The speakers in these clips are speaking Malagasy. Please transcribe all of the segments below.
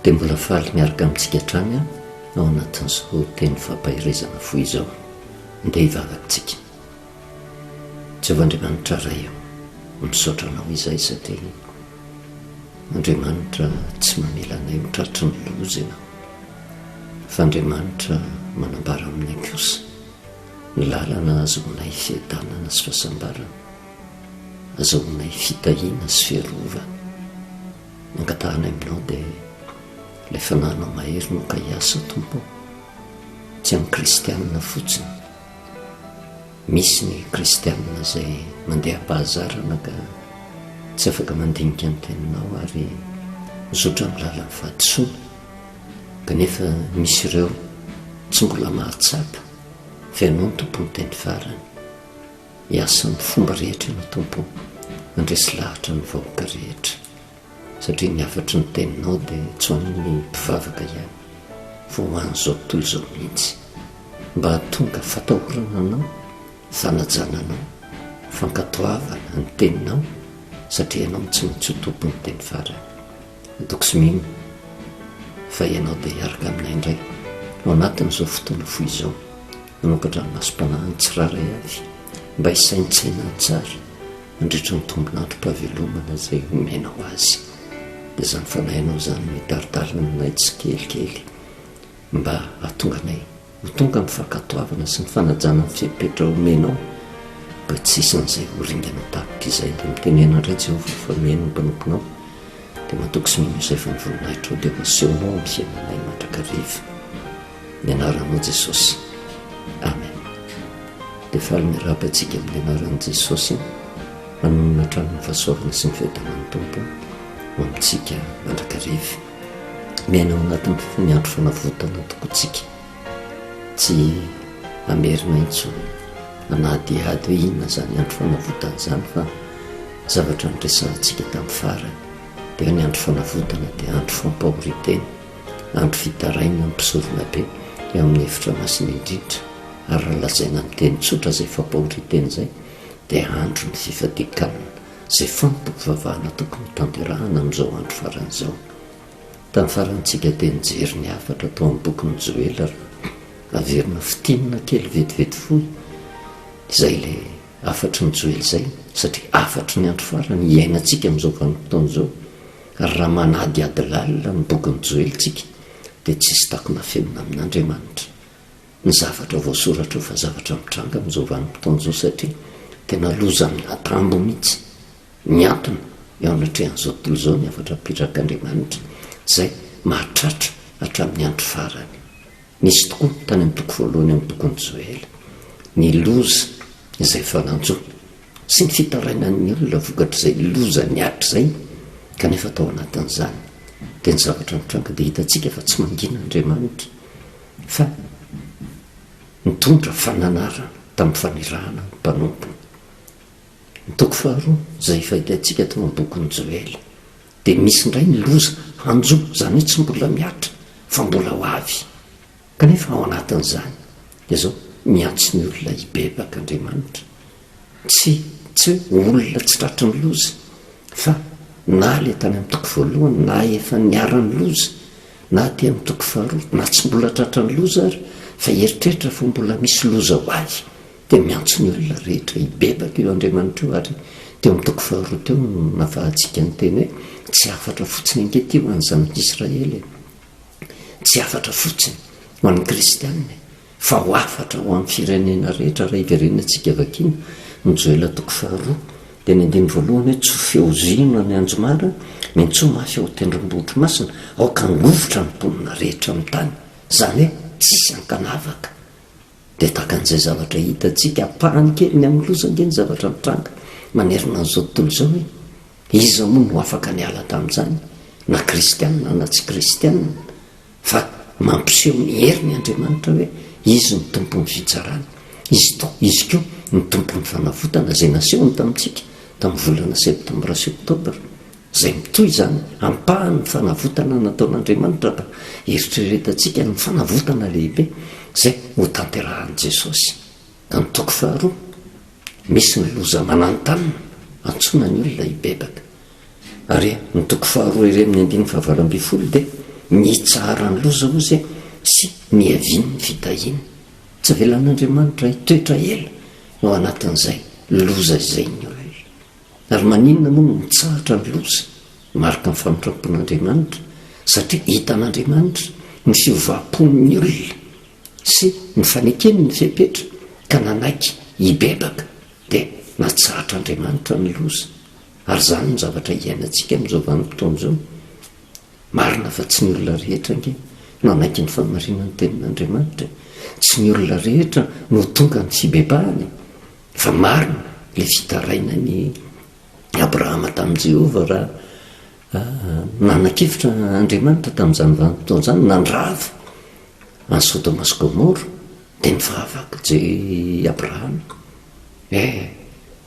dia mbola faly miaraka amintsika hatrany aho ao anatin'izao teny fampaherezana fo izao ndeha hivavakitsika Jehovah Andriamanitra Ray io misaotra anao izay satria Andriamanitra tsy mamela anay ho tratry ny loza ianao fa Andriamanitra manambara aminay kosa Ny lalana ahazoanay fiadanana sy fahasambarana, azahoanay fitahiana sy fiarovana. Ny angatahanay aminao dia ilay fananao mahery no ka hiasa Tompo ô, tsy amin'ny kristianina fotsiny. Misy ny kristianina izay mandeha am-pahazarana ka tsy afaka mandinika ny teninao ary mizotra amin'ny lalan'ny fahadisoana, kanefa misy ireo tsy mbola mahatsapa Fa Ianao no Tompon'teny farany. Miasa amin'ny fomba rehetra Ianao Tompo handresy lahatra ny vahoaka rehetra, satria ny hafatry ny Teninao dia tsy ho an'ny mpivavaka ihany, fa ho an'izao tontolo izao mihitsy, mba hahatonga fatahorana Anao, fanajana Anao, fankatoavana ny Teninao, satria Ianao no tsy maintsy ho Tompon'ny teny farany. Antoko Smin, fa ianao dia hiaraka aminay indray ao anatin'izao fotoana fohy izao hanao-kadranomasom-panahiny tsirairay avy mba hisaintsaina tsara mandritra ny tombon'androm-pahavelomana izay homenao azy. Dia izany fanahinao izany no hitaritarina anay tsikelikely mba hahatonga anay Ho tonga amin'ny fankatoavana sy ny fanajana ny fepetra omenao mba tsy hisan'izay ho ringana tapitra izay, dia mitenena indray Jehovah fa mihaino ny mpanomponao, dia matoky sy mino izay fa ny voninahitrao dia ho asehonao amin'ny fiainanay mandrakariva. Ny anaranao Jesosy. Amen. Dia faly miarahaba antsika amin'ny anaran'i Jesosy hanonona hatrany ny fahasoavana sy ny fiadanan'ny Tompo ho amintsika mandrakariva. miaina ao anatin'ny andro fanavotana tokoa tsika, tsy hamerina intsony hanadihady hoe inona izany andro fanavotana izany fa zavatra niresahantsika tamin'ny farany dia hoe ny andro fanavotana dia andro fampahorintena, andro fitarainana ny mpisorona be eo amin'ny efitra masina indrindra ary raha lazaina amin'ny teny tsotra izay fampahorintena izay dia andro ny fifadian-kanina. izay fantompivavahana tokony hotanterahana amin'izao andro farany izao. Tamin'ny farantsika dia nijery ny hafatra tao amin'ny bokin'i Joela raha averina fintinina kely vetivety fohy izay ilay hafatry ny Joela izay satria hafatry ny andro farany hiainantsika amin'izao vanim-potoana izao ary raha manadihady lalina ny bokin'i Joela isika dia tsy hisy takona afenina amin'Andriamanitra. ny zavatra voasoratra io fa zavatra mitranga amin'izao vanim-potoana izao satria tena lozan'ny latambo mihitsy miantona eo anatrehan'izao tontolo izao ny hafatra apetrak'Andriamanitra izay mahatratra hatramin'ny andro farany. Nisy tokoa tany amin'ny toko voalohany amin'ny bokin'i Joela ny loza izay efa nanjo sy ny fitarainan'ny olona vokatr'izay loza niatra izay kanefa tao anatin'izany dia ny zavatra mitranga dia hitantsika fa tsy mangina Andriamanitra Fa nitondra fananarana tamin'ny fanirahana ny mpanompony. Ny toko faharoa, izay efa hitantsika tao amin'ny bokin'i Joela, dia misy indray ny loza hanjo, izany hoe tsy mbola mihatra fa mbola ho avy. Kanefa ao anatin'izany, dia izao, miantso ny olona hibebaka Andriamanitra. Tsy, tsy hoe olona tsy tratry ny loza, fa na ilay tany amin'ny toko voalohany, na efa niara-niloza, na aty amin'ny toko faharoa, na tsy mbola tratra ny loza ary, fa eritreritra fa mbola misy loza ho ahy, dia miantso ny olona rehetra hibebaka io Andriamanitra io ary teo amin'ny toko faharoa teo no nafahantsika ny teny hoe, tsy hafatra fotsiny ange ity ho an'ny zanak'Israely e! Tsy hafatra fotsiny ho an'ny kristiana e! Fa ho hafatra ho amin'ny firenena rehetra raha hiverenantsika vakiana ny Joela toko faharoa dia ny andininy voalohany hoe tsy ho feozino any Anjomara ny antsoa mafy ao Tendrombohitry Masina aoka hangovitra ny mponina rehetra amin'ny tany izany hoe tsisy ankanavaka dia tahaka an'izay zavatra hitantsika ampahany kely ny amin'ny loza ange ny zavatra nitranga manerana an'izao tontolo izao hoe iza moa no afaka niala tamin'izany na kristianina na tsy kristianina Fa mampiseho ny heriny Andriamanitra hoe Izy no Tompon'ny fitsarana. Izy to, Izy ko, ny Tompon'ny fanavotana, izay nasehony tamintsika tamin'ny volana septambra sy oktobra, izay mitohy izany ampahany ny fanavotana nataon'Andriamanitra raha eritreretantsika ny fanavotana lehibe izay hotanterahan'i Jesosy. Ny toko faharoa. Misy ny loza mananontanona antsoina ny olona hibebaka. Ary ny toko faharoa iray amin'ny andininy fahavalo ambin'ny folo dia mitsahara ny loza hozy e sy miavin ny fitahiana. Tsy avelan'Andriamanitra hitoetra ela ao anatin'izay loza izay ny olona. Ary maninona moa no mitsahatra ny loza? Mariky ny famindrampon'Andriamanitra satria hitan'Andriamanitra ny fiovam-pon'ny olona. sy nofanekeny ny fepetra ka nanaiky hibebaka dia natsahatra Andriamanitra ny loza ary izany no zavatra iainantsika amin'izao vanim-potoana izao. Marina fa tsy ny olona rehetra ange nanaiky ny fahamarinan'ny tenin'Andriamanitra e! Tsy ny olona rehetra no tonga amin'ny fibebahana e! Fa marina ilay fitarainan'i Abrahama tamin'i Jehovah raha Nanakevitra Andriamanitra tamin'izany vanim-potoana izany nandrava an'i Sodoma sy Gomora, dia nivavaka Je Abrahama, E,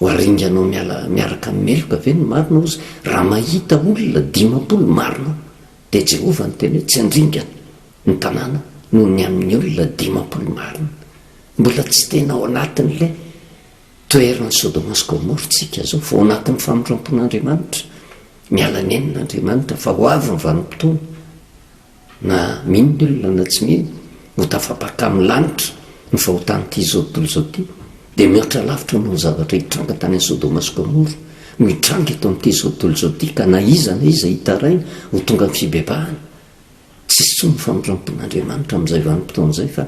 ho aringanao miala miaraka amin'ny meloka ve ny marina oz raha mahita olona dimampolo marina? Dia Jehovah niteny hoe, Tsy handringana ny tanàna noho ny amin'ny olona dimampolo marina. Mbola tsy tena ao anatin'ilay Toheran'i Sodoma sy Gomora tsika zao fa ao anatin'ny famindrampon'Andriamanitra, miala nenina Andriamanitra fa ho avy ny vanim-potoana, na mino ny olona na tsy mino, ho tafapaka amin'ny lanitra ny fahotan'ity zao tontolo zao ty, dia mihoatra lavitra noho ny zavatra hitranga tany Sodoma sy Gomora no hitranga eto amin'ity zao tontolo zao ty ka na iza na iza hitaraina ho tonga amin'ny fibebahana. Tsy hisy intsony ny famindrampon'Andriamanitra amin'izay vanim-potoana izay fa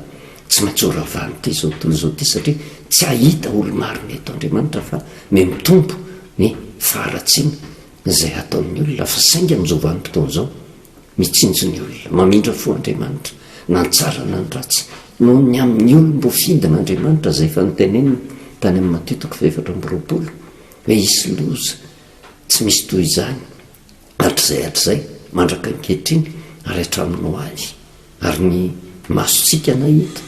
tsy maintsy ho ravan'ity izao tontolo izao ity satria tsy hahita olo-marina eto Andriamanitra fa me mitombo ny faharatsiana izay hataon'ny olona fa saingy amin'izao vanim-potoana izao mitsinjo ny olona mamindra fo Andriamanitra na ny tsara na ny ratsy noho ny amin'ny olom-boafidin'Andriamanitra izay efa noteneniny tany amin'ny Matio toko fahefatra amby roapolo hoe hisy loza tsy misy toy izany Hatrizay hatrizay, mandraka ankehitriny, ary hatramin'ny ho avy. Ary ny masontsika nahita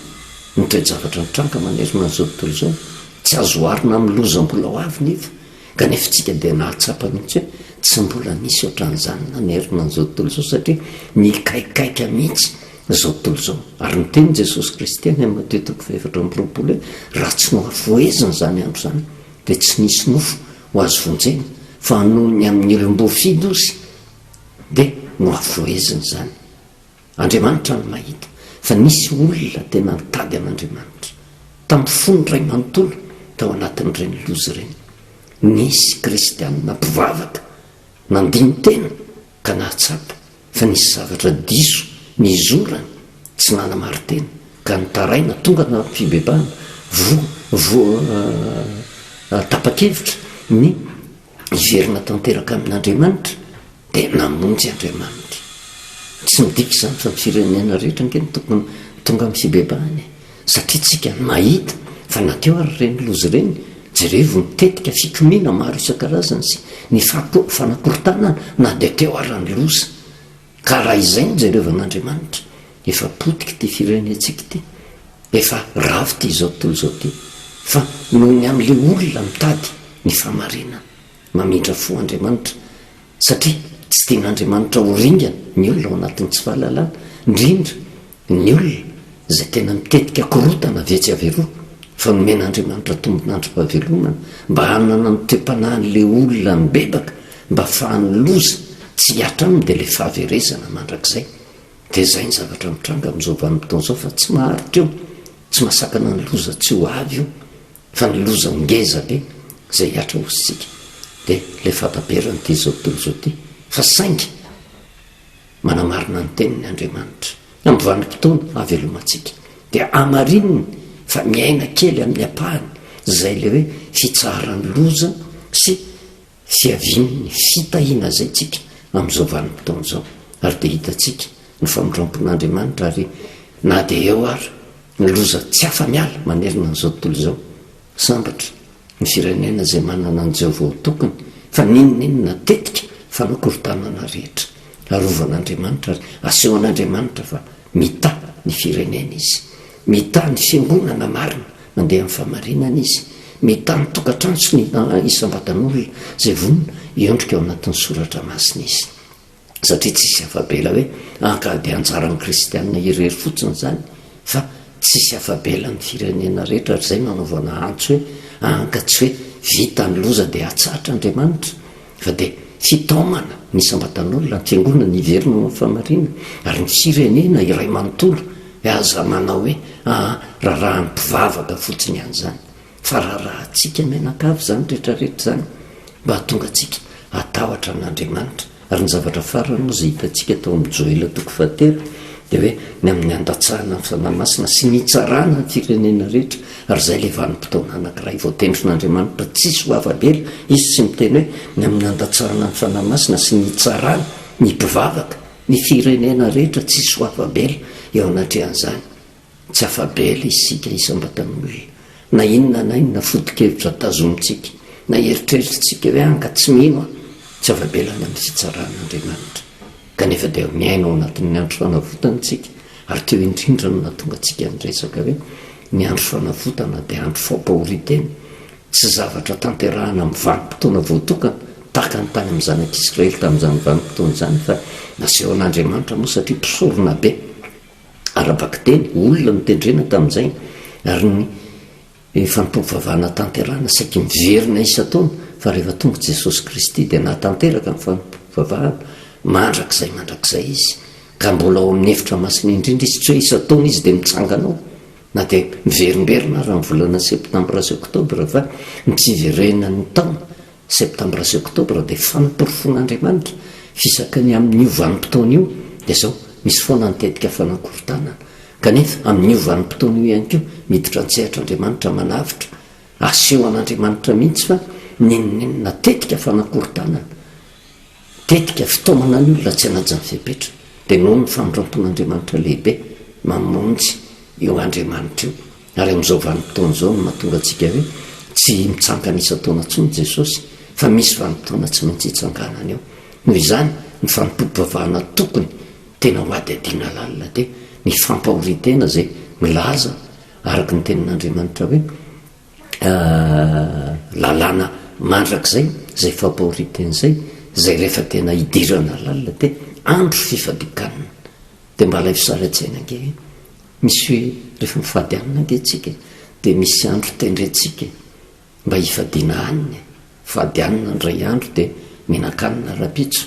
ny toe-javatra nitranga manerana an'izao tontolo izao. Tsy azo oharina amin'ny loza mbola ho avy nefa, kanefa isika dia nahatsapa mihitsy hoe tsy mbola nisy ohatran'izany nanerana an'izao tontolo izao, satria nikaikaika mihitsy izao tontolo izao. Ary niteny Jesosy Kristy any amin'ny Matio toko fahefatra amby roapolo hoe, Raha tsy nohafohezina izany andro izany, dia tsy nisy nofo ho azo vonjena fa noho ny amin'ny olom-boafidy ozy dia nohavoheziny izany. Andriamanitra no mahita fa nisy olona tena nitady an'Andriamanitra. Tampofoany iray manontolo tao anatin'ireny loza ireny. Nisy kristianina mpivavaka nandini-tena ka nahatsapa fa nisy zavatra diso nizorany tsy nanamarin-tena ka nitaraina tonga tamin'ny fibebahana voa voa tapa-kevitra ny hiverina tanteraka amin'Andriamanitra dia namonjy Andriamanitra. Tsy midika izany fa ny firenena rehetra ange no tokony tonga amin'ny fibebahana e! Satria tsika no mahita fa na teo ary ireny loza ireny, jerevo ny tetika fikomiana maro isan-karazany sy ny fanakorontanana na dia teo ary ny loza. Ka raha izay no jereo van'Andriamanitra, efa potika ity firenentsika ity, efa ravo ity izao tontolo izao ity, fa noho ny amin'ilay olona mitady ny fahamarinana, mamindra fo Andriamanitra, Satria tsy tian'Andriamanitra ho ringana ny olona ao anatin'ny tsy fahalalana, indrindra ny olona izay tena mitetika korontana avy etsy avy eroa, fa nomen'Andriamanitra tombon'androm-pahavelomana mba hanana ny toe-panahin'ilay olona nibebaka, mba afahan'ny loza tsy hihatra aminy, dia ilay fahaverezana mandrakizay. Dia izay ny zavatra mitranga amin'izao vanim-potoana izao, fa tsy maharitra io, tsy mahasakana ny loza tsy ho avy io. Fa ny loza ngeza be izay hiatra ho isika dia ilay fataberan'ity izao tontolo izao ity, fa saingy manamarina ny teniny Andriamanitra, amin'ny vanim-potoana hahavelomantsika dia hamarininy fa miaina kely amin'ny ampahany izay ilay hoe fitsaharan'ny loza sy fiavian'ny fitahiana izay tsika amin'izao vanim-potoana izao ary dia hitantsika ny famindrampon'Andriamanitra ary na dia eo ary ny loza tsy afa-miala manerana an'izao tontolo izao. Sambatra ny firenena izay manana an'i Jehovah ho tokony fa n'inon'inona tetika fanao korotanana rehetra, arovan'Andriamanitra ary asehon'Andriamanitra fa mitahy ny fireneny izy. Mitaha ny fiangonana marina mandeha amin'ny fahamarinana izy. Mitaha ny tokantrano sy ny isam-batan'olona izay vonona hiondrika ao anatin'ny Soratra Masina izy. Satria tsy hisy afa-bela hoe hankady anjaran'ny kristiana irery fotsiny izany, fa tsy hisy afa-bela ny firenena rehetra, ary izay no hanaovana antso hoe, hankatso hoe, vita ny loza dia hatsahatra Andriamanitra. Fa dia tsy hitaomana ny isam-batan'olona an-tsangonana hiverina ao amin'ny famarina, ary ny firenena iray manontolo dia aza manao hoe, aa, rarahan'ny mpivavaka fotsiny ihany izany, fa rarahantsika mianakavy izany rehetra rehetra izany, mba hahatonga antsika hatahotra an'Andriamanitra. Ary ny zavatra farany moa izay hitantsika tao amin'ny Joela toko fahatelo dia hoe ny amin'ny handatsahana ny Fanahy Masina sy ny hitsarana ny firenena rehetra, Ary izay ilay vanim-potoana anankiray voatendrin'Andriamanitra tsisy ho afa-bela, Izy tsy miteny hoe, ny amin'ny handatsahana ny Fanahy Masina sy ny hitsarana ny mpivavaka, ny firenena rehetra tsisy ho afa-bela eo anatrehan'izany. Tsy afa-bela isika isam-batany hoe, na inona na inona foto-kevitra tazomintsika, na eritreritrintsika hoe, anga tsy mino aho, tsy afa-bela ny amin'ny fitsaran'Andriamanitra. Kanefa dia miaina ao anatin'ny andro fanavotana isika, ary teo indrindra no nahatonga antsika niresaka hoe ny andro fanavotana dia andro fampahorian-tena, tsy zavatra tanterahana amin'ny vanim-potoana voatokana, tahaka ny tany amin'ny zanak'Israely tamin'izany vanim-potoana izany, fa nasehon'Andriamanitra moa satria mpisoronabe ara-bakiteny, olona notendrena tamin'izay, ary ny Ny fanompoam-pivavahana tanterahana saiky miverina isan-taona fa rehefa tonga i Jesosy Kristy dia nahatanteraka ny fanompoam-pivavahana mandrakizay mandrakizay Izy ka mbola ao amin'ny efitra masina indrindra Izy tsy hoe isan-taona Izy dia mitsangana ao na dia miverimberina ary amin'ny volana septambra sy oktobra fa ny fiverenan'ny taona Septambra sy Oktobra dia fampirofon-Andriamanitra fisaky ny amin' io vanim-potoana io dia izao, misy foana ny tetika fanakorontanana, kanefa amin' io vanim-potoana io ihany koa miditra an-tsehatra Andriamanitra manavotra, aseho an' Andriamanitra mihitsy fa n'inon'inona tetika fanakorontanana, Tetika fitaomana ny olona tsy hanaja ny fepetra, dia noho ny famindram-pon'Andriamanitra lehibe mamonjy io Andriamanitra io. Ary amin'izao vanim-potoana izao no mahatonga antsika hoe tsy mitsangana isan-taona intsony Jesosy, fa misy vanim-potoana tsy maintsy hitsanganany eo. Noho izany, ny fanompoam-pivavahana tokony tena hohadihadiana lalina dia ny fampahorian-tena izay milaza araka ny tenin'Andriamanitra hoe, lalàna mandrakizay izay fampahoriantena izay, izay rehefa tena idirana lalina dia andro fifadikanana. Dia mba alaivo sary an-tsaina ange hoe misy hoe rehefa mifady hanina ange isika dia misy andro tendrentsika mba hifadiana hanina e! Mifady hanina indray andro dia mihinan-kanina rahampitso,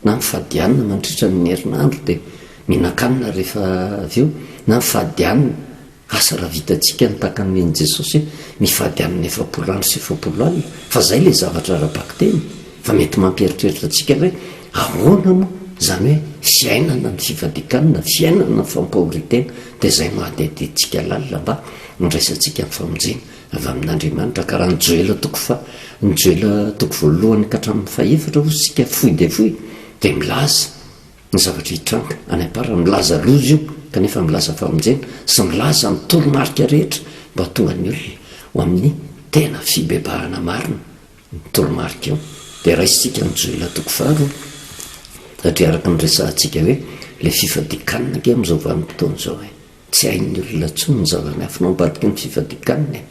na mifadianina mandritra ny herinandro dia mihinan-kanina rehefa avy eo, na mifadianina, asa raha vitantsika ny takany nen'i Jesosy hoe mifadianina efapolo andro sy efapolo alina, fa izay ilay zavatra ara-bakiteny, fa mety mampieritreritra antsika hoe ahoana moa izany hoe fiainana ny fifadian-kanina, fiainana ny fampahorian-tena, dia izay no hadihadiantsika lalina mba handraisantsika ny famonjena. Avy amin'Andriamanitra, ka raha ny Joela toko fa ny Joela toko voalohany ka hatramin'ny fahefatra hoy isika fohy dia fohy dia milaza ny zavatra hitranga any am-pary, milaza loza io kanefa milaza famonjena sy milaza ny toromarika rehetra mba hahatonga ny olona ho amin'ny tena fibebahana marina ny toromarika io dia raisintsika ny Joela toko faharoa satria araka ny resahantsika hoe ilay fifadian-kanina ange amin'izao vanim-potoana izao e! Tsy hain'ny olona intsony ny zava-miafina ao ambadiky ny fifadian-kanina e!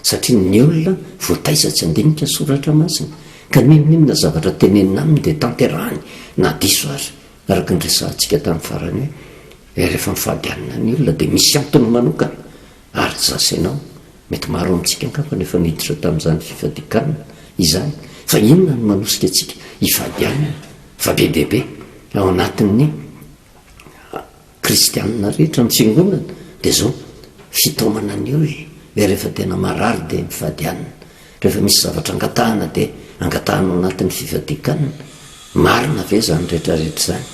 Satria ny olona voataiza tsy handinika ny soratra masina, ka n'inon'inona zavatra tenenina aminy dia tanterahiny na diso aza. Araka ny resahantsika tamin'ny farany hoe, rehefa mifady hanina ny olona dia misy antony manokana. Ary ny zasenao? Mety maro amintsika angamba no efa niditra tamin'izany fifadian-kanina izany. Fa inona no manosika antsika hifady hanina fa be dia be ao anatin'ny Kristianina rehetra nitsingonana dia izao fitaomana ny olona hoe rehefa tena marary dia mifadianina, rehefa misy zavatra angatahana dia angatahana ao anatin'ny fifadikanana, marina ve izany rehetra rehetra izany?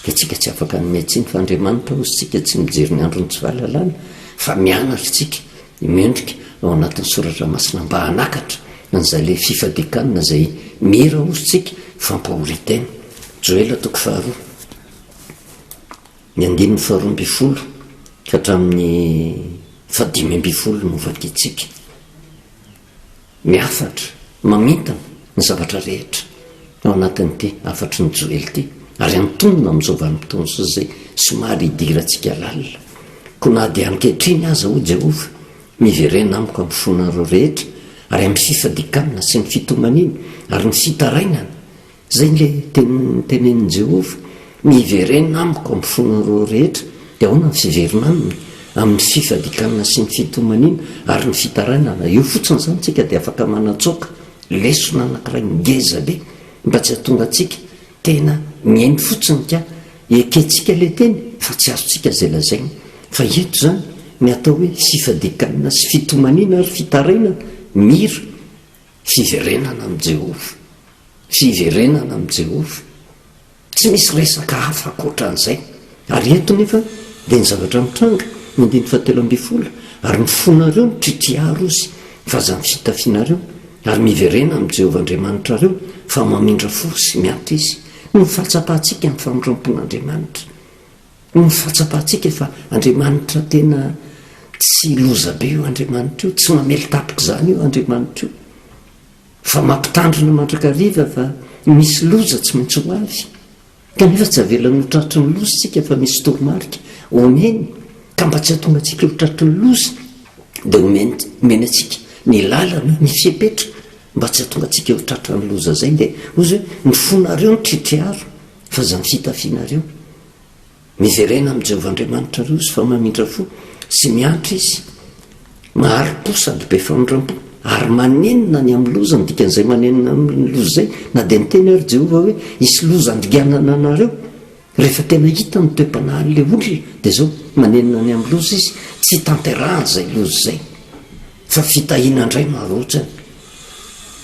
Dia tsika tsy afaka hanome tsiny fa Andriamanitra hozy tsika tsy mijery ny andron'ny tsy fahalalana fa mianatra tsika, Mendrika ao anatin'ny soratra masina mba hanakatra an'izay le fifadiakana izay mira ozontsika fampahoritena. Joela toko faharoa, ny andininy faharoa ambin'ny folo ka hatramin'ny fahadimy ambin'ny folo no vakintsika. Ny hafatra, mamintana ny zavatra rehetra ao anatin'ity hafatry ny Joely ity, ary antonona amin'izao vanim-potoana izao izay somary hidirantsika lalina. Koa na dia ankehitriny aza, hoy Jehovah, miverena amiko amin'ny fonareo rehetra, ary amin'ny fifadikanana sy ny fitomaniana, ary ny fitarainana, Izay ilay teny notenenin'i Jehovah, Miverena amiko amin'ny fonareo rehetra, dia ahoana ny fiverina aminy? Amin'ny fifadikanana sy ny fitomaniana ary ny fitarainana. Eo fotsiny izany isika dia afaka manatsoaka. Lesona anankiray ngeza be mba tsy hahatonga antsika tena mihaino fotsiny ka ekentsika ilay teny fa tsy azontsika izay lazainy. Fa eto izany ny atao hoe fifadikanana sy fitomaniana ary fitarainana. Mira. Fiverenana amin'i Jehovah. Fiverenana amin'i Jehovah. Tsy misy resaka hafa ankoatra an'izay. Ary eto nefa dia ny zavatra mitranga, ny andininy fahatelo ambin'ny folo, Ary ny fonareo mitritriha rozy, ny vazan'ny fitafianareo, ary miverena amin'i Jehovah Andriamanitrareo, fa mamindra fo sy miampy Izy. Noho ny fahatsapantsika ny famindram-pon'Andriamanitra. Hoy ny fahatsapantsika fa Andriamanitra tena tsy loza be io Andriamanitra io, tsy mamelin-tapitra izany io Andriamanitra io, fa mampitandrina mandrakariva fa misy loza tsy maintsy ho avy, kanefa tsy avelany ho tratry ny loza isika fa misy toromarika omeny ka mba tsy hahatonga antsika ho tratry ny loza dia omeny antsika ny lalana, ny fepetra mba tsy hahatonga antsika ho tratry ny loza izay dia hoy izy hoe ny fonareo no tritriaro F'aza ny fitafianareo. Miverena amin'i Jehovah Andriamanitrareo sy fa mamindra fo sy miantra izy. Mahari-po sady be famindram-po, ary manenina ny amin'ny loza, ny dikan'izay manenina amin'ny loza izay, na dia niteny ary Jehovah hoe hisy loza handinganana anareo. Rehefa tena hita ny toe-panahin'ilay olona, dia izao, manenina ny amin'ny loza izy, tsy hitanterahany izay loza izay. Fa fitahiana ndray no arotsany.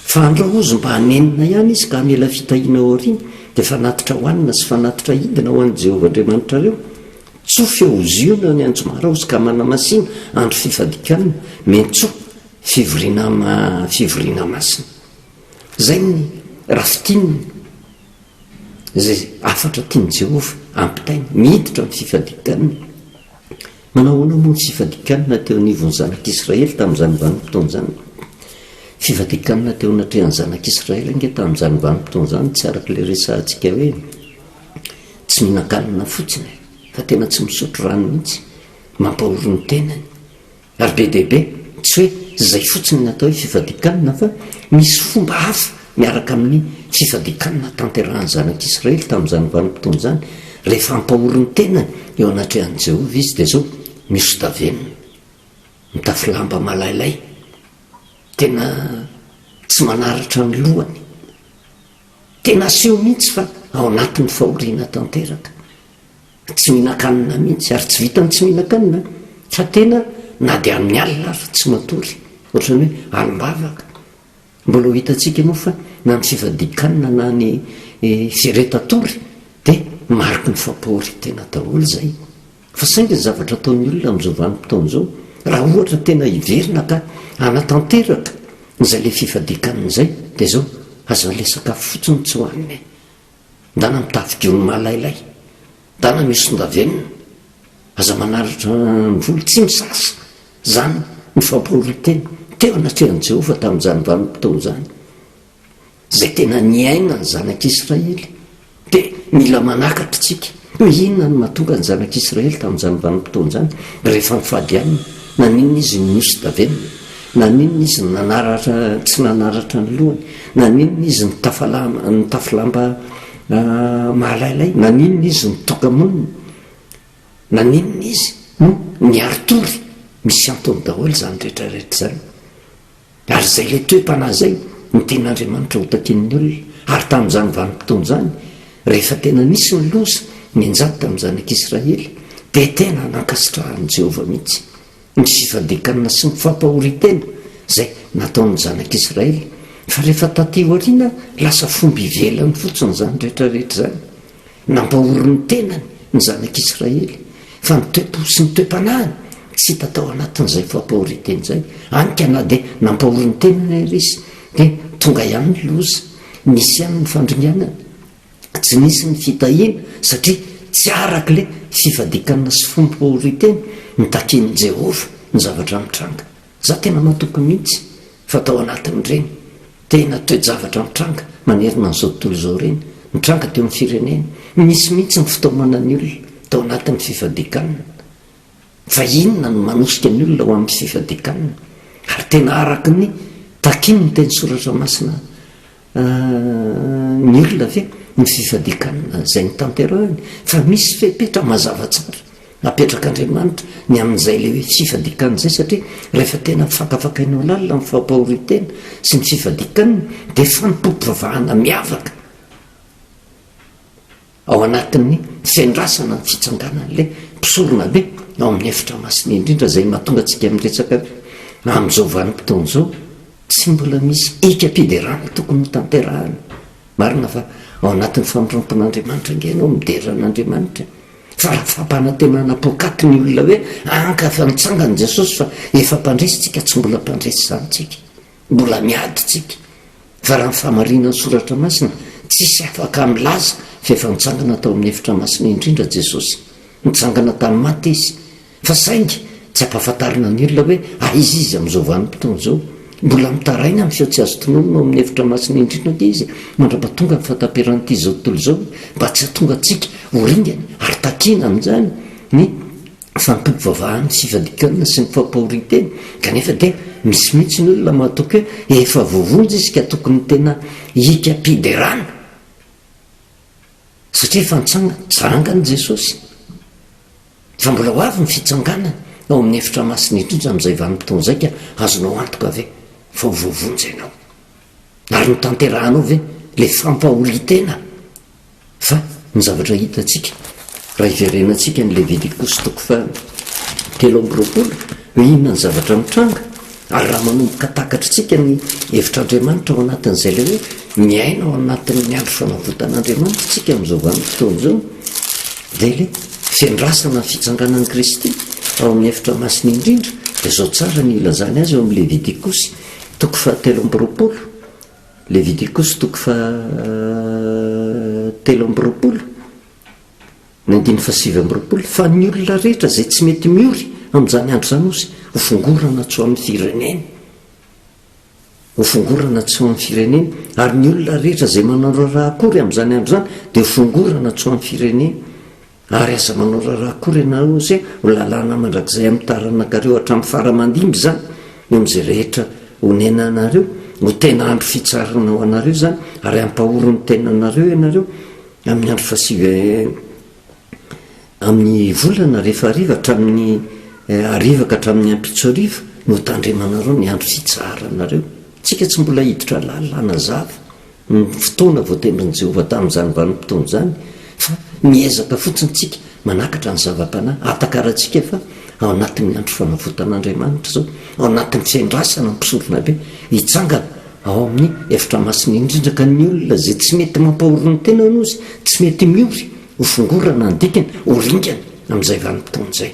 Fa andreo hozy mba hanenina ihany izy ka hamela fitahiana ao aoriana, dia fanatitra hohanina sy fanatitra hidina ho an'i Jehovah Andriamanitrareo. Tsofy eo ho ziona ny anjomara hozy ka manamasina andro fifadikanana, mentsoa, fivoriana fivoriana masina. Izay ny raha fintinina izay hafatra tian'i Jehovah hampitaina, miditra amin'ny fifadikanana. Manahoana moa ny tsy fadikanana teo anivon'ny zanak'Israely tamin'izany vanim-potoana izany? Fivadikanana teo anatrehan'ny zanak'Israely ange tamin'izany vanim-potoana izany tsy araka ilay resahantsika hoe tsy mihinan-kanina fotsiny, fa tena tsy misotro rano mihitsy, mampahory ny tenany. Ary be dia be, tsy hoe izay fotsiny no atao hoe fivadikanana, fa misy fomba hafa miaraka amin'ny tsy fadikany nahatanterahan'ny Zanak'Israely tamin'izany vanim-potoana izany, rehefa hampahory ny tenany eo anatrehan'i Jehovah izy, dia izao, Misodavenona, mitafy lamba malailay, tena tsy manaratra ny lohany. Tena aseho mihitsy fa ao anatin'ny fahoriana tanteraka. Tsy mihinan-kanina mihitsy, ary tsy vitan'ny tsy mihinan-kanina, fa tena na dia amin'ny alina ary tsy matory, ohatran'ny hoe alim-bavaka, Mbola ho hitantsika moa fa na ny sivadikana na ny seretatory dia mariky ny fampahoriantena daholo izay. Fa saingy ny zavatra ataon'ny olona amin'izao vanim-potoana izao, raha ohatra tena hiverina ka hanatanteraka izay ilay fifadikanana izay dia izao, aza ilay sakafo fotsiny tsy hohanina e! Dana mitady gony malailay. Dana misy sondavenona. Aza manalatra ny vola. Tsy misasa izany ny fampahorian-tena. Teo anatrehan'i Jehovah tamin'izany vanim-potoana izany izay tena niainan'ny zanak'Israely, dia mila manakatra isika. Hoe inona no nahatonga ny Zanak'Israely tamin'izany vanim-potoana izany rehefa nifadianina? Naninona izy no nosodavenina? Naninona izy no tsy nanaratra ny lohany? Naninona izy no nitafy lamba mahalailay? Naninona izy no toka-monina? Naninona izy no niari-tory? Misy antony daholo izany rehetrarehetra izany. Ary izay ilay toe-panahy izay no tian'Andriamanitra hotakian'ny olona, ary tamin'izany vanim-potoana izany, rehefa tena nisy ny loza nianjady tamin'ny zanak'Israely, dia tena nankasitrahan'i Jehovah mihitsy ny fifadian-kanina sy ny fampahorian-tena izay nataon'ny zanak'Israely, fa rehefa tatỳ aoriana, lasa fomba ivelany fotsiny izany rehetra rehetra izany. Nampahory ny tenany ny zanak'Israely, fa ny toe-po sy ny toe-panahiny tsy hita tao anatin'izay fampahorian-tena izay. Hany ka na dia nampahory ny tenany aza izy, dia tonga ihany ny loza. Nisy ihany ny fandringanana. Tsy nisy ny fitahiana, satria tsy araka ilay fifadian-kanina sy fombom-pahorian-tena nitakian'i Jehovah ny zavatra nitranga. Za tena matoky mihitsy fa tao anatin'ireny tena toe-javatra mitranga manerana an'izao tontolo izao ireny, nitranga teo amin'ny firenena, nisy mihitsy ny fitaomana ny olona tao anatin'ny fifadikanana. Fa inona no manosika ny olona ho amin'ny fifadikanana? Ary tena araka ny takin'ny teny soratra masina Ny olona ve ny sisa dia kanina izay ny tanterahiny fa misy fepetra mazava tsara apetrak'Andriamanitra ny amin'izay ilay hoe fifadikan izay satria rehefa tena afakafakainao lalina ny fampahorin-tena sy ny fifadikan dia fanompoam-pivavahana miavaka Ao anatin'ny fiandrasana ny fitsanganan'ilay mpisoronabe ao amin'ny efitra masina indrindra izay mahatonga antsika miresaka hoe amin'izao vanim-potoana izao tsy mbola misy ekam-piderana tokony hotanterahana. Marina fa ao anatin'ny famirampin'Andriamanitra ange ianao midera an'Andriamanitra fa raha fampanantenana poakaty ny olona hoe anka fa mitsangana Jesosy fa efa mpandresy tsika tsy mbola mpandresy izany tsika. Mbola miady tsika fa raha ny famarinan'ny soratra masina tsisy afaka milaza fa efa nitsangana tao amin'ny efitra masina indrindra Jesosy. Nitsangana tamin'ny maty Izy fa saingy tsy ampahafantarina ny olona hoe aiza Izy amin'izao vanim-potoana izao. Mbola mitaraina amin'ny feo tsy azo tononina ao amin'ny efitra masina indrindra anie Izy mandrapa tonga ny fahataperan'ity izao tontolo izao mba tsy hahatonga antsika ho ringana ary takiana amin'izany ny fampivavahana sy fadikana sy ny fampahorintena kanefa dia misy mihitsy ny olona mahatoky hoe efa voavonjy izy ka tokony tena hikam-piderana satria efa nitsangana, tsy vanangan' i Jesosy fa mbola ho avy ny fitsanganany ao amin'ny efitra masina indrindra amin'izay vanim-potoana izay ka azonao antoka ve fa ho voavonjy ianao ary ho tanterahanao ve ilay fampahorintena Fa ny zavatra hitantsika raha hiverenantsika ny Levitikosy toko faha telo amby roapolo, hoe inona ny zavatra mitranga, ary raha manomboka takatritsika ny hevitr'Andriamanitra ao anatin'izay ilay hoe miaina ao anatin'ny andro fanavotan'Andriamanitra isika amin'izao vanim-potoana izao, dia ilay fiandrasana ny fitsanganan'i Kristy ao amin'ny efitra masina indrindra dia izao tsara ny ilazany azy ao amin'ny Levitikosy toko faha telo amby roapolo. Levitikosy toko faha telo amby roapolo ny andininy faha sivy amby roapolo fa ny olona rehetra izay tsy mety miory amin'izany andro izany osy ho fongorana tsy ho amin'ny fireneny ho fongorana tsy ho amin'ny fireneny ary ny olona rehetra izay manao raharaha akory amin'izany andro izany dia ho fongorana tsy ho amin'ny fireneny Ary aza manao raharaha akory ianareo ose ho lalàna mandrakizay amin'ny taranakareo hatramin'ny fara aman-dimby izany eo amin'izay rehetra onenanareo, ho tena andro fitsarana ho anareo izany ary hampahory ny tenanareo ianareo amin'ny andro fahasivy amin'ny volana rehefa hariva hatramin'ny hariva ka hatramin'ny ampitso hariva no hotandremanareo ny andro fitsaharanareo. Isika tsy mbola hiditra lalàna zava. ny fotoana voatendrin'i Jehovah tamin'izany vanim-potoana izany, fa miezaka fotsiny isika manakatra ny zava-panahy ahatakarantsika fa ao anatin'ny andro fanavotan'Andriamanitra izao, ao anatin'ny fiandrasana mpisoronabe hitsangana ao amin'ny efitra masina indrindra, ka ny olona izay tsy mety mampahory ny tenany hoy izy, tsy mety miory, hofongorana ny dikany, ho ringana amin'izay vanim-potoana izay.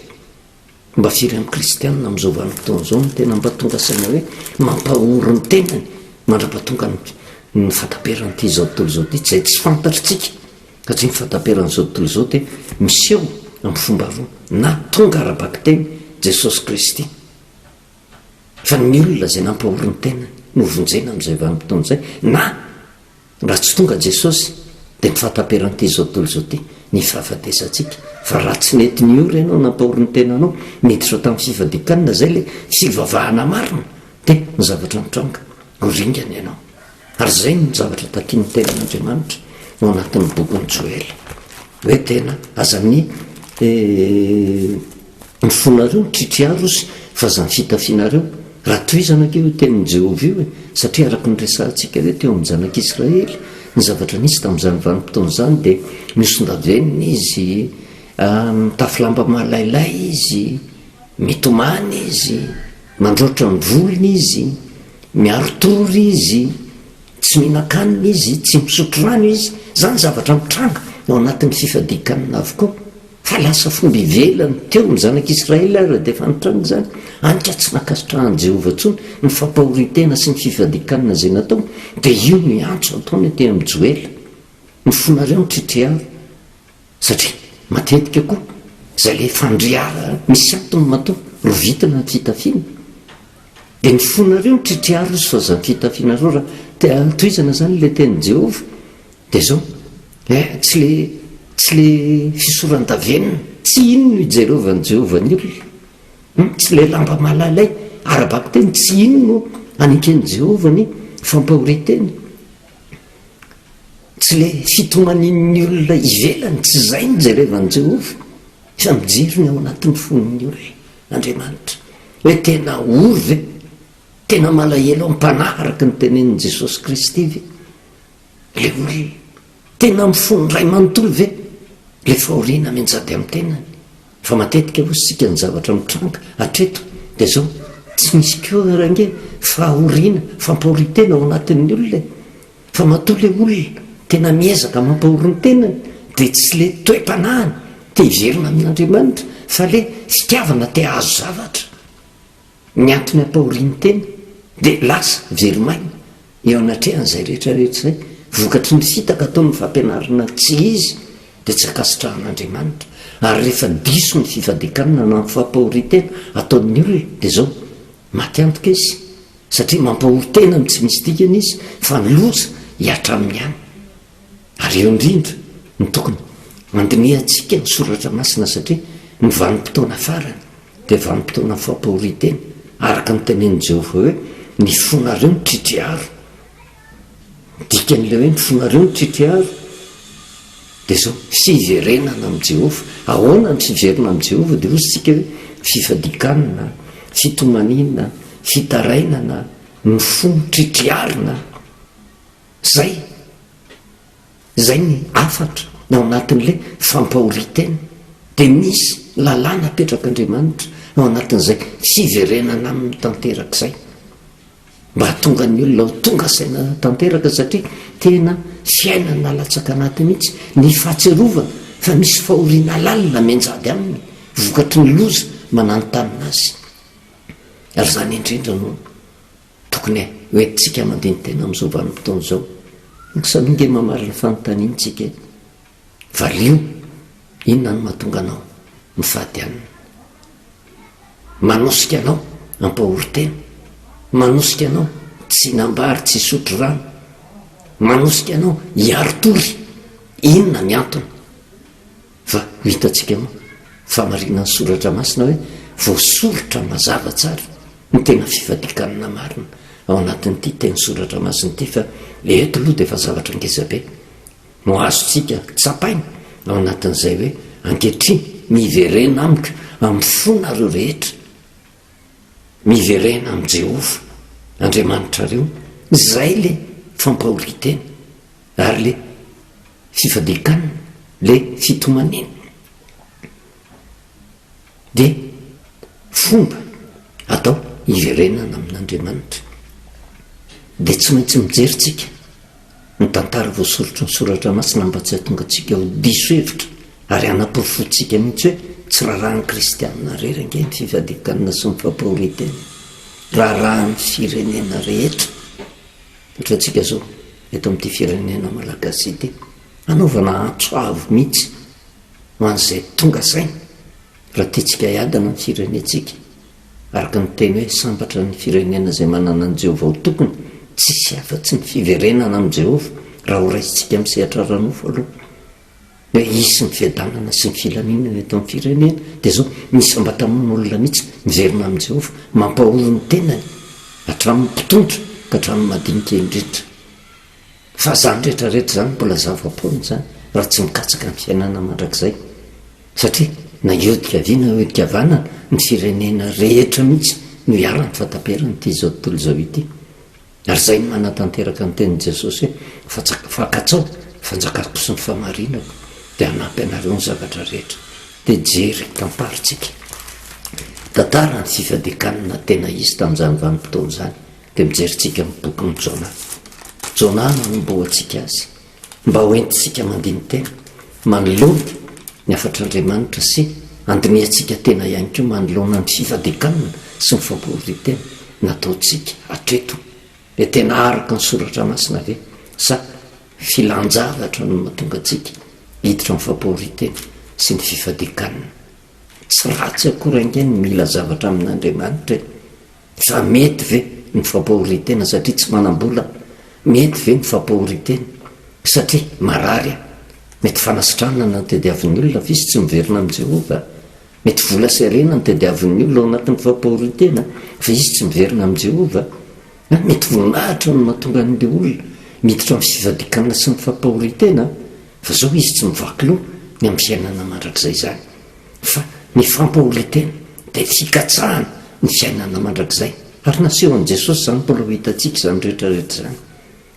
Mba firy amin'ny kristiana amin'izao vanim-potoana izao no tena mba tonga saina hoe mampahory ny tenany mandra-pahatonga ny fahataperan'ity izao tontolo izao ity, izay tsy fantatritsika, satria ny fahataperan'izao tontolo izao dia miseho amin'ny fomba roa, na tonga ara-bakiteny Jesosy Kristy, fa ny olona izay nampahory ny tenany no hovonjena amin'izay vanim-potoana izay, na Raha tsy tonga Jesosy dia tsy fataperan'ity izao tontolo izao ity ny fahafatesantsika fa raha tsy nety niory ianao nampahory ny tenanao niditra tamin'ny fifadikanina izay ilay fivavahana marina dia ny zavatra nitranga ho ringana ianao ary izay no zavatra takian'ny tenan'Andriamanitra ao anatin'ny bokin'i Joela hoe tena aza ny eh, Ny fonareo kikiarosy fa zany fitafinareo, raha tohizana anie io tenin'i Jehovah io e, satria araka ny resahantsika hoe teo amin'ny zanak'Israely ny zavatra nisy tamin'izany vanim-potoana izany dia nosondavenina izy, mitafy lamba malailay izy, mitomany izy, mandroatra ny volony izy, miari-tory izy, tsy mihinan-kanina izy, tsy misotro rano izy, izany zavatra mitranga ao anatin'ny fifadian-kanina avokoa. Fa lasa fomba ivelany teo ny Zanak'i Israely ary dia efa nitranga izany, hany ka tsy nankasitrahan'i Jehovah intsony ny fampahorian-tena sy ny fifadian-kanina izay nataony. Dia io ny antso ataony aty amin'ny Joela, Ny fonareo no tritiharo. Satria matetika koa, izay ilay fandrihara misy antony matoa rovitina ny fitafiana. Dia ny fonareo mitritriaro ry soazam-pitafianareo raha te hantohizana izany ilay tenin'i Jehovah. Dia izao, eh, tsy ilay, tsy ilay fisoran-davenona, tsy iny no ijerovan'i Jehovah ny olona, humm, tsy ilay lamba malalay ara-bakiteny, tsy iny no aneken'i Jehovah ny fampahorian-tena, tsy ilay fitomanian'ny olona ivelany, tsy izay no jerevan'i Jehovah, fa mijery ny ao anatin'ny fon'ny olona. Andriamanitra. Hoe tena ory ve? Tena malahelo am-panahy araka ny tenenin'i Jesosy Kristy ve ilay ory? Tena mifono indray manontolo ve ilay fahoriana mianjady amin'ny tenany? Fa matetika hoy isika ny zavatra mitranga hatreto dia izao, tsy misy koa ary ange fahoriana, fampahorian-tena ao anatin'ny olona e! Fa matoa le olona tena miezaka mampahory ny tenany dia tsy le toe-panahiny te hiverina amin'Andriamanitra fa le fitiavana te hahazo zavatra ny antony ampahoriany tena dia lasa very maina eo anatrehan'izay rehetra rehetra izay vokatry ny fitaka ataon'ny fampianarana tsy izy dia tsy ankasitrahan'Andriamanitra ary rehefa diso ny fifadikanana na ny fampahoriantena ataon'ny olona dia zao Maty antoka izy satria mampahory tena amin'ny tsy misy dikany izy fa ny loza hihatra aminy ihany. Ary eo indrindra no tokony handinihantsika ny soratra masina satria ny vanim-potoana farany dia vanim-potoanan'ny fampahorian-tena araka ny tenenin'i Jehovah hoe, Ny fonareo mitritry aro. Dikan'ilay hoe ny fonareo no tritriaro dia izao, tsy hiverenana amin'i Jehovah. Ahoana ny fiverina amin'i Jehovah? Dia hoy isika hoe, fifadikanana, fitomaniana, fitarainana, ny fo tritriarina. Izay. Izay ny hafatra ao anatin'ilay fampahorin-tena. Dia misy lalàna apetrak'Andriamanitra ao anatin'izay fiverenana aminy tanteraka izay. Mba hahatonga ny olona ho tonga saina tanteraka satria tena fiainana latsaka anaty mihitsy ny fahatsiarovana fa misy fahoriana lalina mianjady aminy vokatry ny loza mananontanona azy. Ary izany indrindra no tokony ho entintsika mandini-tena amin'izao vanim-potoana izao. Misaoa ange mamaly ny fanontaniantsika e! Valio, Inona no mahatonga anao mifady aminy? Manosika anao hampahorin-tena, manosika anao tsy hinam-ba ary tsy hisotro rano, manosika anao hiari-tory, inona ny antony? Fa ho hitantsika moa fa marina ny soratra masina hoe voasoritra mazava tsara ny tena fifadian-kanina marina ao anatin'ity teny soratra masina ity fa eto aloha dia efa zavatra ngezabe no azontsika tsapaina ao anatin'izay hoe, Ankehitriny, miverena amiko amin'ny fonareo rehetra. Miverena amin'i Jehovah Andriamanitrareo. Izay ilay fampahorian-tena, ary ilay fifadian-kanina, ilay fitomaniana. Dia fomba atao hiverenana amin'Andriamanitra. Dia tsy maintsy mijery tsika ny tantara voasoritry ny soratra masina mba tsy hahatonga antsika ho diso hevitra ary hanaporofoantsika mihitsy hoe tsy rarahan'ny kristianina irery ange ny fifadian-kanina sy ny fampahorian-tena. Rarahan'ny firenena rehetra. Ohatra antsika izao eto amin'ity firenena malagasy ity. Hanaovana antso avo mihitsy ho an'izay tonga saina raha tiantsika hiadana ny firenentsika, araka ny teny hoe sambatra ny firenena izay manana an'i Jehovah ho tokony, tsy hisy afa-tsy ny fiverenana amin'i Jehovah raha horaisintsika amin'ny sehatra ara-nofo aloha hoe hisy ny fiadanana sy ny filaminana eto amin'ny firenena, dia izao, Misy sambatra amin'olona mihitsy miverina amin'i Jehovah, mampahory ny tenany, hatramin'ny mpitondra ka hatramin'ny madinika indrindra. Fa zany rehetra rehetra zany mbola zava-poana zany raha tsy mikatsaka ny fiainana mandrakizay satria na hiodikavina hiodikavanana ny firenena rehetra mihitsy no iharany fa taperany ity zao tontolo zao ity ary zay no manatanteraka ny tenin'i Jesosy hoe fanjaka fa katsao fanjakako sy ny famarinako dia hanampy anareo ny zavatra rehetra dia jery tantarintsika tantara ny fifadikanana tena izy tamin'izany vanim-potoana izany Dia mijerintsika amin'ny bokin'i Jona. Jona no anombohantsika azy, mba ho entintsika mandini-tena, manoloana ny hafatr'Andriamanitra sy handinihantsika tena ihany koa manoloana ny fifadian-kanina sy ny fampihorian-tena nataontsika hatreto. Dia tena araka ny Soratra Masina ve sa filan-javatra no mahatonga antsika hiditra amin'ny fampihorian-tena sy ny fifadian-kanina? Tsy ratsy akory ange ny mila zavatra amin'Andriamanitra e! Sa mety ve ny fampahorin-tena satria tsy manam-bola? Mety ve ny fampahorin-tena satria marary aho? Mety fanasitranana no tadiavin'ny olona fa izy tsy miverina amin'i Jehovah. Mety vola sy harena no tadiavin'ny olona ao anatin'ny fampahorin-tena fa izy tsy miverina amin'i Jehovah. Na mety voninahitra no mahatonga an'ilay olona miditra amin'ny fivadikana sy ny fampahorin-tena fa izao izy tsy mivaky loha ny amin'ny fiainana mandrakizay izany. fa ny fampahoritena dia fikatsahana ny fiainana mandrakizay, ary nasehon'i Jesosy izany mbola ho hitantsika izany rehetra rehetra izany,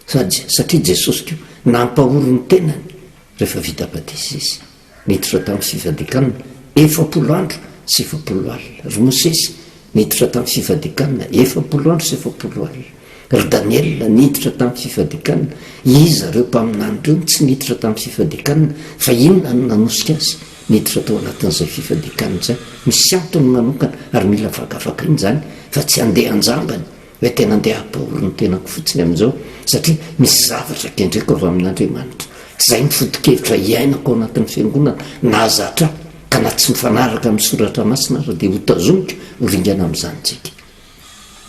sady satria Jesosy koa nampahory ny tenany rehefa vita batisa Izy, niditra tamin'ny fifadikanana efapolo andro sy efapolo alina ry Mosesy, Niditra tamin'ny fifadikanana efapolo andro sy efapolo alina. Ry Daniela niditra tamin'ny fifadikanana, iza ireo mpaminany ireo no tsy niditra tamin'ny fifadikanana, fa inona no nanosika azy niditra tao anatin'izay fifadikanana izay? Misy antony manokana ary mila vakavakana izany fa tsy handeha an-jambany. Hoe tena andeha hampahory ny tenako fotsiny amin'izao satria misy zavatra kendreko avy amin'Andriamanitra. Izay ny foto-kevitra iainako ao anatin'ny fiangonana nahazatra ahy, ka na tsy mifanaraka amin'ny soratra masina aza dia hotazomiko ho ringana amin'izany tsika.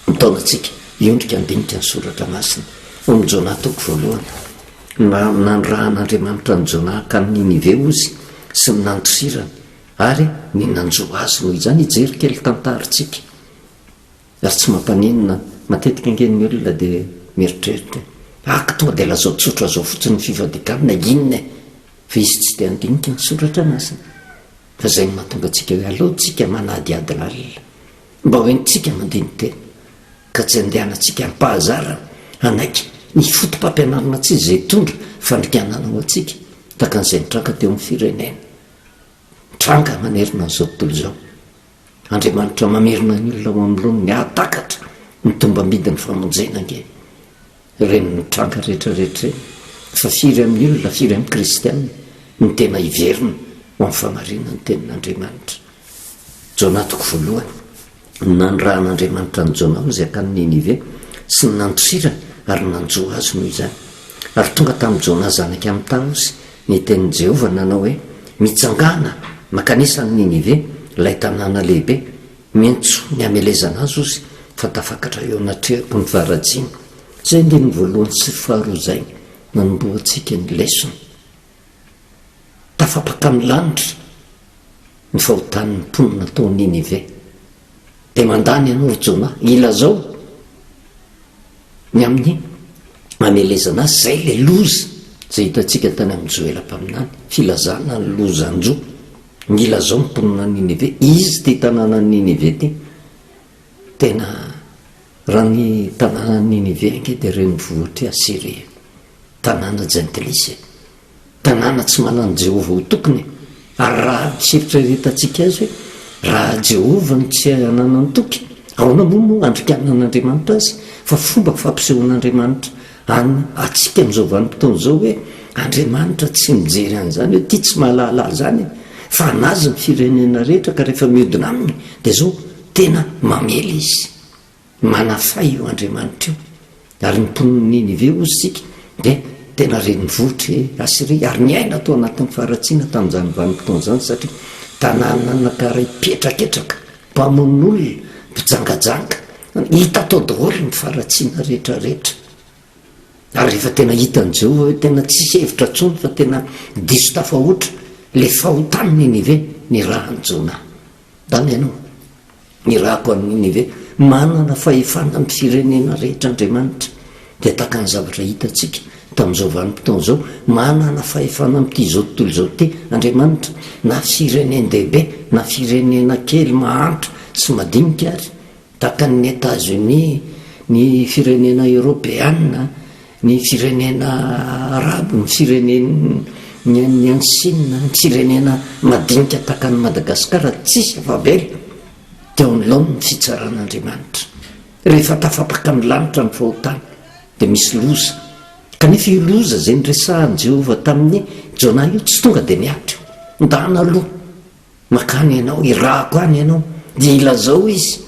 Mitaona antsika hiondrika handinika ny soratra masina. Ao amin'ny Jonah toko voalohany. Na, nanirahan'Andriamanitra an'i Jonah hankany Ninive ozy sy ny nandosirany ary ny nanjo azy. Noho izany hijery kely tantarintsika. Ary tsy mampaninona, matetika ange ny olona dia mieritreritra hoe, Aka tonga dia lazao tsotra izao fotsiny ny fivadikan na inona e! Fa izy tsy dia handinika ny soratra masina. Fa izay no mahatonga antsika hoe aleo tsika manadihady lalina mba ho entintsika mandini-tena, ka tsy andehanantsika am-pahazarana hanaiky ny fotopampianarana tsy izay hitondra fandrikanana ho antsika, tahaka an'izay nitranga teo amin'ny firenena nitranga manerana an'izao tontolo izao. Andriamanitra mamerina ny olona ao amlony ny hahatakatra ny tombambidin'ny famonjena ange. Ireny no tranga rehetrarehetra ireny fa firy amin'ny olona, firy amin'ny kristiana no tena hiverina ho amin'ny famarinan'ny tenin'Andriamanitra. Jona toko voalohany, Ny nanirahan'Andriamanitra an'i Jona hozy hankany Ninive sy ny nandosirany ary nanjo azy noho izany. Ary tonga tamin'i Jona zanak'i Amita hozy Ny tenin'i Jehovah nanao hoe, Mitsangàna, mankanesa an'i Ninive, ilay tanàna lehibe. Miantsoa ny hamelezana azy ozy, fa tafakatra eo anatrehako ny faharatsiany. Izay andininy voalohany sy faharoa izay no nanombohantsika ny lesona. Tafapaka amin'ny lanitra ny fahotan'ny mponina tao Ninive. Dia mandà ny anao, ry Jonah, ilazao! Ny amin'ny hamelezana azy, izay ilay loza izay hitantsika tany amin'i Joela mpaminany, filazana ny lozan-jo. Nilazao ny mponina any Ninive, izy ity tanànan'i Ninive ity. Tena, raha ny tanànan'i Ninive ange dia renivohitr'i Asyria, tanàna jentilisa e. Tanàna tsy manan'i Jehovah ho tompony e! Ary raha misy eritreretantsika azy hoe, 'Raha Jehovah no tsy ananan'ny tompony, ahoana moa no handrikanan'Andriamanitra azy? Fa fomba fampisehoan'Andriamanitra an antsika amin'izao vanim-potoana izao hoe Andriamanitra tsy mijery an'izany hoe ity tsy mahalala azy izany e! Fa an'azy ny firenena rehetra ka rehefa mihodina aminy dia izao tena mamely izy. Manafay io Andriamanitra io, ary ny mponin'i Ninive hozy isika dia tena renivohitr'i Asyria, ary niaina tao anatin'ny faharatsiana tamin'izany vanim-potoana izany, satria tanàna nankaray mpihetraketraka, mpamono olona, mpijangajanga, hita tao daholo ny faharatsiana rehetrarehetra. Ary rehefa tena hitan'i Jehovah hoe tena tsisy hevitra intsony fa tena diso tafahoatra ilay fahotan'i Ninive, nirahan'i Jonah. Dama ianao, irahako an'i Ninive, manana fahefana amin'ny firenena rehetra Andriamanitra, dia tahaka ny zavatra hitantsika tamin'izao vanim-potoana izao, manana fahefana amin'ity izao tontolo izao ity Andriamanitra, na firenen-dehibe na firenena kely mahantra sy madinika ary. Takan'ny Etazonia, ny firenena eoropeana, ny firenena arabo, ny firenen'ny any Sina, ny firenena madinika takan'i Madagasikara tsisy afa-bela dia ao nilaon'ny fitsaran'Andriamanitra. Rehefa tafapaka ny lanitra ny fahotana dia misy loza, kanefa io loza izay niresahan'i Jehovah tamin'i Jona io tsy tonga dia nihatra io. Ndana aloha. Mankany ianao, irahako any ianao, dia ilazao izy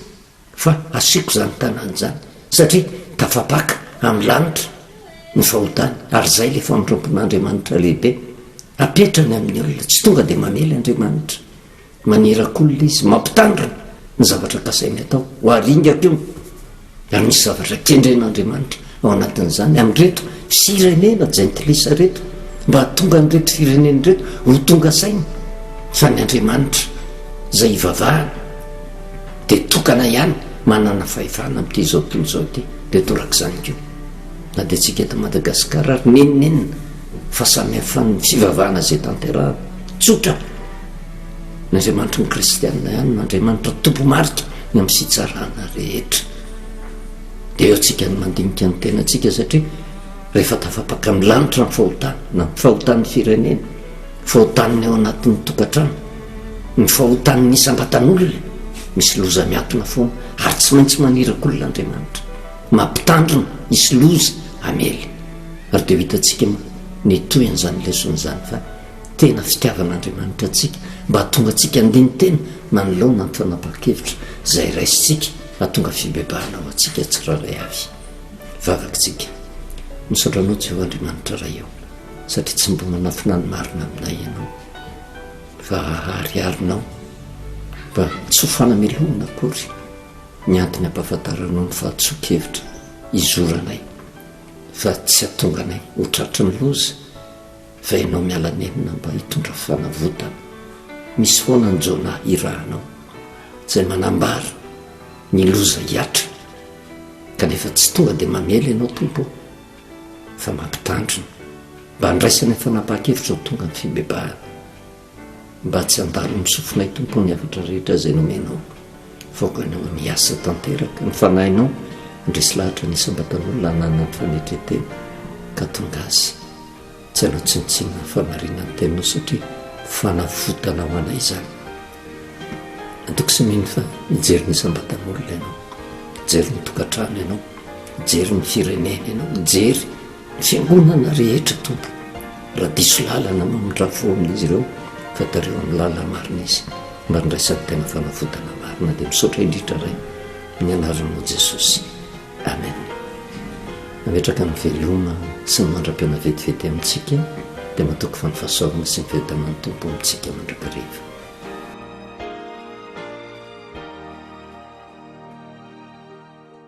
fa asiako izany tanàna izany, satria tafapaka amin'ny lanitra ny fahotany, ary izay ilay famindrampon'Andriamanitra lehibe apetrany amin'ny olona, tsy tonga dia mamely Andriamanitra, manirakolona izy, mampitandrina ny zavatra kasainy atao, ho aringako io. Anisy zavatra kendren'Andriamanitra ao anatin'izany amin'ireto firenena jentilisa ireto, mba hahatonga an'ireto firenena ireto ho tonga saina fa ny Andriamanitra izay ivavahana dia tokana ihany manana fahefana amin'ity izao tontolo izao ity, dia toraka izany koa na dia antsika eto Madagasikara ary n'inon'inona fa samy hafa ny fivavahana izay tanterahana, tsotra. Ny Andriamanitry ny kristianina ihany no Andriamanitra tompomarika ny amin'ny fitsarana rehetra. Dia eo antsika ny mandinika ny tenantsika satria rehefa tafapaka ny lanitra ny fahotana, na ny fahotan'ny firenena, fahotan'ny eo anatin'ny tokantrano, ny fahotan'ny isam-batan'olona, misy loza miatona foana ary tsy maintsy manirakolona Andriamanitra. Mampitandrina, hisy loza hamely. Ary dia ho hitantsika moa ny tohin'izany lesona izany fa tena fitiavan'Andriamanitra antsika mba hahatonga antsika handini-tena manoloana ny fanapahan-kevitra izay raisintsika hahatonga fibebahana ho antsika tsirairay avy. Vavak'tsika. Misaotra Anao Jeho Andriamanitra Ray o, satria tsy mba manafina ny marina aminay Ianao, fa ahariharinao mba tsy ho fanamelohana akory ny antony ampahafantaranao ny fahatsoan-kevitra hizoranay fa tsy hahatonga anay ho tratry ny loza, Fa ianao miala nenina mba hitondra fanavotana, misy foana ny Jonah hirahanao izay manambara ny loza hiatrika, kanefa tsy tonga dia mamely ianao Tompo ô, fa mampitandrina mba handraisany fanapahan-kevitra ho tonga ny fibebahana. Mba tsy handalo ny sofinay Tompo ny hafatra rehetra izay nomenao fa aokanao ny hiasa tanteraka ny fanahinao handresy lahatra ny isam-batan'olona hananany fanetren-tena ka tonga azy tsy hanao tsinontsinona ny fahamarinan'ny teninao satria fanavotana ho anay izany Antoko sy mino fa mijery ny isam-batan'olona ianao mijery ny tokantrano ianao mijery ny firenena ianao mijery Fiangonana rehetra Tompo raha diso lalana mamindrafo fo amin'izy ireo fa tariho amin'ny lalana marina izy mba handraisany tena fanavotana marina dia misaotra indrindra Ray amin'ny anaranao Jesosy Amen Nametraka ny veloma sy ny mandra-piaona vetivety amintsika dia matoky fa ny fahasoavana sy ny fiadanan'ny Tompo amintsika mandrakariva.